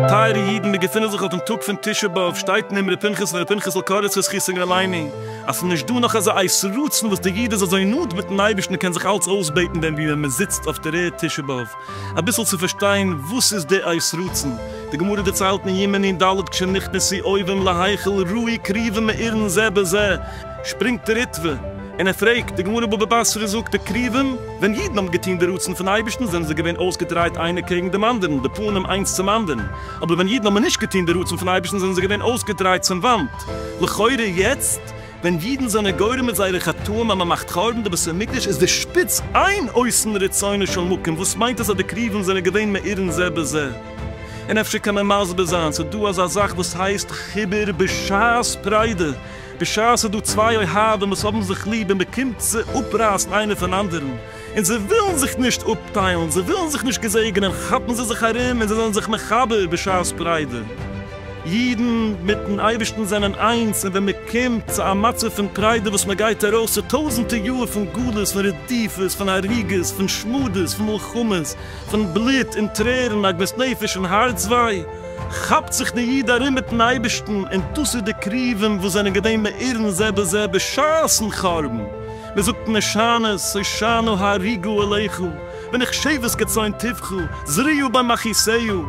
טייערע אידן, מיר געפינען זיך אויפן טאג פון תשעה באב, שטייט אין אמרי פנחס פון רבי פנחס'ל קאריץ זכותו יגן עלינו, אז ס'איז נישט דא נאך אזא עת רצון וואס די איד איז אזוי נאנט מיטן אייבערשטן און קען זיך אלץ אויסבעטן ווען וואו ווען מ'זיצט אויף דער ערד תשעה באב. אביסל צו פארשטיין וואס איז די אות רצון. די גמרא דערציילט אין יומא נ ד כשנכנס זי אויבעם להיכל ראי קריבעם מאירען זה בזה, שפרינגט די ריטבא און ער פרעגט, די גמרא בבא בסרא זאגט די קריבעם, ווען אידען האבען געטוהן די רצון פון אייבישטען זענען זיי געווען אויסגעדרייט איינער קעגען דעם אנדערען, די פנים איינס צום אנדערען, אבער ווען אידען האבען נישט געטוהן די רצון פון אייבישטען זענען זיי געווען אויסגעדרייט צום וואנט. לכאורה יעצט. ווען אידן זענען גורם מיט זייערע חטאים אז מען מאכט חרבן די בית המקדש איז די שפיץ איין אויסן רצונו של מקום וואס מיינט עס אז די קרובים זענען געווען מאירין זה בזה און אפשר קען מען מסביר זיין ס'איז דא אזא זאך וואס הייסט חיבור בשעת פריידע בשעת ס'איז דא צוויי אוהבים וואס האבן זיך ליב און מען קומט צו אפרייסן איינער פון אנדערן און זיי ווילן זיך נישט אפטיילן, זיי ווילן זיך נישט געזעגענען, כאפן זיי זיך ארום און זיי זענען זיך מחבר בשעת פריידע. אידן מיטן אייבערשטן זענען איינס, און ווען מען קומט צו א מצב פון פריידע וואס מען גייט ארויס צו טויזנטער יאר פון גלות, פון רדיפות, פון הריגות, פון שמדות, פון מלחמות, פון בלוט און טרערן, עגמת נפש און הארצוויי, כאפט זיך דער איד ארום מיטן אייבערשטן, און דאס איז די קרובים וואס זענען געווען מאירן זה בזה בשעת'ן חורבן, מען זאגט משענות, הושענא הריגו אליך, ווען איך שבט כצאן טבחו, זריעו בה מכעיסיו,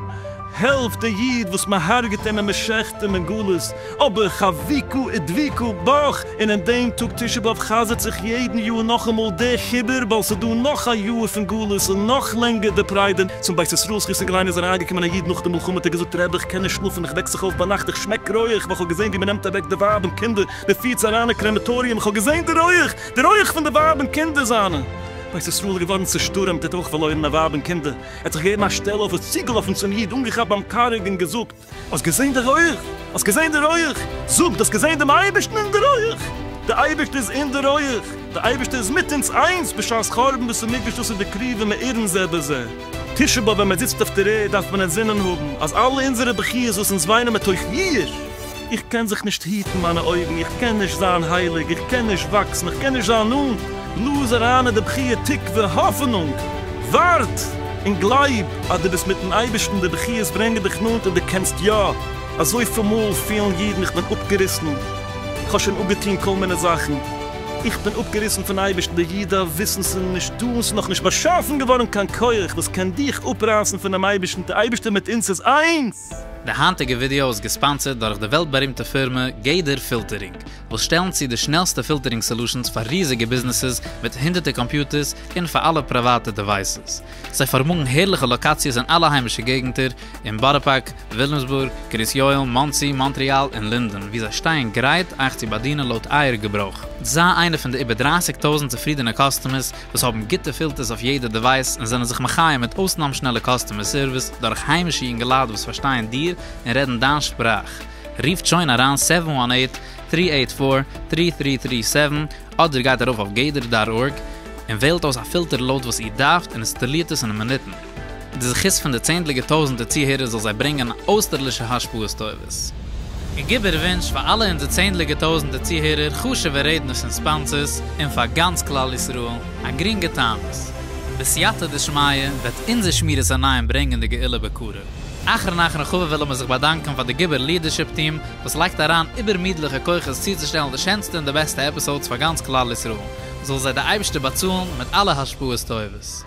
העלף די איד וואס מען הרג'ט אים און מען שעכט אים אין גלות, אבער חבקו ודביקו בך, און אין דעם טאג תשעה באב חזר'ט זיך יעדן יאר נאכאמאל די חיבור, ווייל ס'איז דא נאך א יאר פון גלות און נאך לענגער די פריידע, צום בית ישראל זכות אין קליינע איז אריינגעקומען א איד נאך די מלחמה האט ער געזאגט רבי איך קען נישט שלאפן איך וועק זיך אויף ביינאכט איך שמעק רויעך ווייל איך האב געזען ווי מען נעמט אוועק די ווייב און קינדער, די פירט זיי אריין אין קרעמעטאריום, איך האב געזען די רויעך, די רויעך פון די ווייב און קינדער זיינע. בית ישראל איז געווארן צושטורעמט, ער האט אויך פארלוירן א ווייב און קינדער, ער האט זיך געגעבן א שטעל אויף, איז צוגעלאפן צום איד, אנגעכאפט ביים קארג און געזאגט, האסט געזען די רויעך? האסט געזען די רויעך? זאג, דו האסט געזען דעם אייבערשטן אין די רויעך? דער אייבערשטער איז אין די רויעך, דער אייבערשטער איז מיט אונז איינס בשעת חורבן בית המקדש, דאס איז די קרבה מאירן זה בזה. תשעה באב ווען מען זיצט אויף דער ערד דארף מען אינזינען האבן אז אלע אונזערע בכיות וואס אונז וויינען מתוך יאיר, איך קען זיך נישט היטן מיינע אויגן, איך קען נישט זיין הייליג, איך קען נישט וואקסן, איך קען נישט זיין נאנט, לאז אריין אין די בחי' תקווה, האפענונג, ווארט און גלייב אז דו ביסט מיטן אייבערשטן, די בכיות ברענגען דיך נאנט און דו קענסט יא, אזויפיל מאל פילן אידן איך בין אפגעריסן, איך האב שוין אפגעטון כל מיני זאכן, איך בין אפגעריסן פון אייבערשטן, די איד דארף וויסן ס'איז נישט דא און ס'איז נאך נישט באשאפן געווארן קיין כח וואס קען דיך אפרייסן פונעם אייבערשטן, די אייבערשטער מיט אונז איז איינס! די היינטיגע ווידעא איז געספאנסערד דורך די וועלט בארימטע פירמע גדר פילטערינג, וואס שטעלן צו די שנעלסטע פילטערינג סעלושענס פאר ריזיגע ביזנעסעס מיט הונדערטער קאמפיוטערס און פאר אלע פריוואטע דעווייסעס. זיי פארמאגן הערליכע לאקאציעס אין אלע היימישע געגנטער, אין בארא פארק, וויליאמסבורג, קרית יואל, מאנסי, מאנטריאל און לינדען, וואו זיי שטייען גרייט אייך צו באדינען לויט אייער געברויך. זיי איינע פון די איבער דרייסיג טויזנט צופרידענע קאסטומערס וואס האבן גוטע פילטערס אויף יעדע דעווייס און זענען זיך מחיה מיט אויסנאם שנעלע קאסטומער סערוויס דורך היימישע יונגעלייט וואס פארשטייען דיר און רעדן דיין שפראך. רופט שוין אריין סעווען וואן עיט, טרי עיט פאר, טרי טרי טרי סעווען אדער גייט ארויף אויף גדר דאט ארג און וועלט אויס א פילטער לויט וואס איר דארפט און אינסטאלירט עס אין מינוטן. די זכות פון די צענדליגע טויזענטער צוהערער זאל זיי ברענגען אויסטערלישע השפעות טובות. און גיב איר ווינטש פאר אלע אונזער צענדליגע טויזענטער צוהערער, חשוב'ע רעדנערס און ספאנסערס, און פאר גאנץ כלל ישראל, א גרינגע תענית. בסייעתא דשמיא וועט אונזער שמירת עיניים ברענגען די גאולה בקרוב. אחרון אחרון חביב ווילן מיר זיך באדאנקען פאר די גיבור ליעדערשיפ טיעם וואס לייגט אריין איבערמידליכע כוחות צוצושטעלן די שענסטע און די בעסטע עפיסאודס פאר גאנץ כלל ישראל, זאל זיי די אייבערשטער באצאלן מיט אלע השפעות טובות.